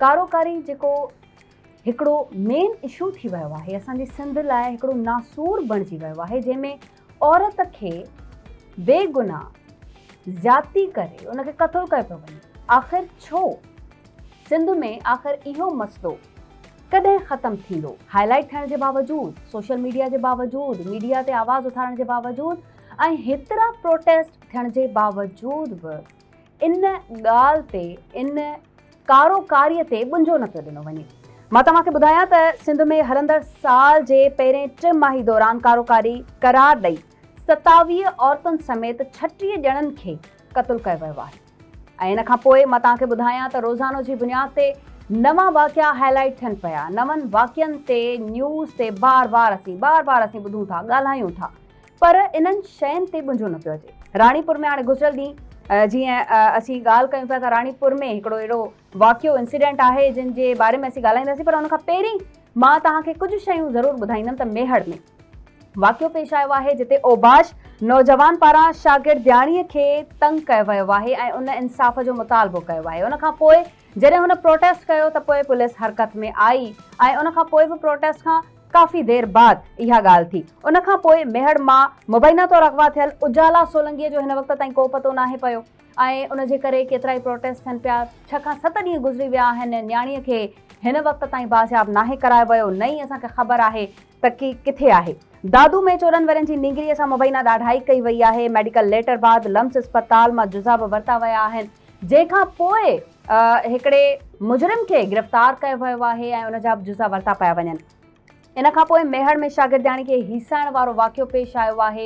ڪارو ڪاري جيڪو هڪڙو مين اشو ٿي ويو آهي اسان جي سنڌ لاء هڪڙو ناسور بڻجي ويو آهي جنهن ۾ عورت کي بي گناهه زيادتي ڪري ان کي قتل ڪيو پيو وڃي آخر ڇو سنڌ ۾ آخر اهو مسئلو ڪڏهن ختم ٿيندو هاء لائٽ ٿيڻ جي باوجود سوشل ميڊيا جي باوجود ميڊيا تي آواز اٿارڻ جي باوجود ۽ هيترا پروٽيسٽ ٿيڻ جي باوجود به ان ڳالهه تي، ان ڪارو ڪاريء تي ٻنجو نه پيو ڏنو وڃي. مان توهان کي ٻڌايان ته سنڌ ۾ هلندڙ سال جي پهرين ٽه ماهي دوران ڪارو ڪاري قرار ڏئي ستاويهه عورتن سميت ڇٽيهه ڄڻن کي قتل ڪيو ويو آهي ۽ ان کان پوء مان توهان کي ٻڌايان ته روزانو جي بنياد تي نوان واقعا هاء لائيٽ ٿين پيا نون واقعن تي نيوز تي بار بار اسين بار بار اسين ٻڌون ٿا ڳالهايون ٿا پر انهن شين تي ٻنجو نه پيو اچي. راڻيپور ۾ هاڻي گذريل ڏينهن جيئن اسين ڳالهه ڪيون پيا ته راڻيپور ۾ هڪڙو اهڙو واقعو انسيڊنٽ آهي جنهن جي باري ۾ اسين ڳالهائينداسين پر ان کان پهرين مان توهان کي ڪجهه شيون ضرور ٻڌائيندم ته ميهڙ ۾ واقعو پيش آيو آهي جتي اوباش نوجوان پاران شاگردياڻي کي تنگ ڪيو ويو آهي ۽ ان انصاف جو مطالبو ڪيو آهي ان کان پوء جڏهن هن پروٽيسٽ ڪيو ته پوء پوليس حرڪت ۾ آئي ۽ ان کان پوء به پروٽيسٽ کان ڪافي دير بعد اها ڳالهه ٿي. ان کان پوء ميهڙ مان مبينا طور اغوا ٿيل اجالا سولنگيء جو هن وقت تائين ڪو پتو ناهي پيو ۽ ان جي ڪري ڪيترا ئي پروٽيسٽ ٿين پيا. ڇهه کان ست ڏينهن گذري ويا آهن ۽ نياڻيء کي هن وقت تائين بازياب ناهي ڪرايو ويو، نه ئي اسان کي خبر آهي ته ڪي ڪٿي آهي. دادو ۾ چوڏهن ورهين جي نينگريء سان مبينا ڏاڍائي ڪئي وئي آهي. ميڊيڪل ليٽر بعد لمس اسپتال مان جزا به ورتا ويا آهن. جنهن کان پوء هڪڙي مجرم کي گرفتار ڪيو ويو آهي ۽ ان جا به جزا ورتا پيا وڃن. ان کان پوء ميهڙ ۾ شاگردياڻي کي هيسائڻ وارو واقعو پيش آيو آهي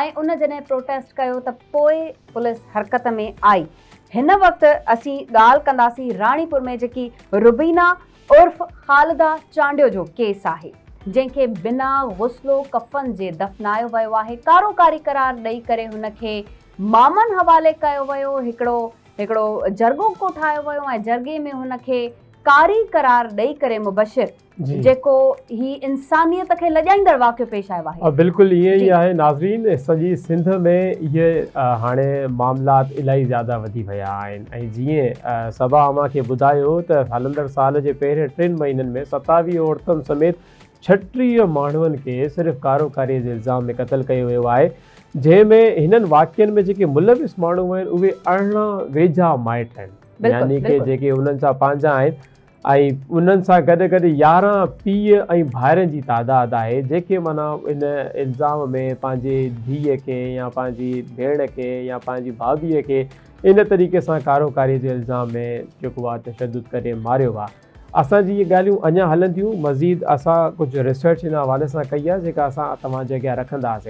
۽ ان جڏهن پروٽيسٽ ڪيو ته پوء پوليس حرڪت ۾ آئي. هن وقت اسين ڳالهه ڪنداسين راڻيپور ۾ جيڪي روبينا عرف خالده چانڊيو جو ڪيس آهي جنهن کي بنا غسل و ڪفن جي دفنايو ويو آهي ڪارو ڪاري قرار ڏئي ڪري هن کي مامن حوالي ڪيو ويو، هڪڙو هڪڙو جرڳوڪو ٺاهيو ويو ۽ جرڳي ۾ هن کي قاري قرار ڏئي ڪري مبشر جيڪو هي انسانيت کي لڄائيندڙ واقعو پيش آيو آهي. بلڪل ائين ئي آهي ناظرين سڄي سنڌ ۾ اهي هاڻي معاملات الائي زياده وڌي ويا آهن ۽ جيئن صبا اوهان کي ٻڌايو ته هلندڙ سال جي پهرين ٽن مهينن ۾ ستاويهه عورتن سميت ڇٽيهه ماڻهن کي صرف ڪارو ڪاري جي الزام ۾ قتل ڪيو ويو آهي، جنهن ۾ هنن واقعن ۾ جيڪي ملوث ماڻهو آهن اهي ارڙهن ويجها مائٽ آهن يعني ڪي جيڪي انهن سان پنهنجا آهن ۽ انهن سان گڏ گڏ يارهن پيء ۽ ڀائرن جي تعداد آهي جيڪي معنيٰ ان الزام ۾ پنهنجي ڌيء کي يا پنهنجي ڀيڻ کي يا پنهنجي ڀاڀيء کي ان طريقي سان ڪارو ڪاري جي الزام ۾ جيڪو آهي تشدد ڪري ماريو آهي. اسان جي اهي ڳالهيون اڃا هلن ٿيون مزيد اسان ڪجهه ريسرچ ان حوالي سان ڪئي آهي جيڪا اسان توهان جي اڳيان رکنداسي.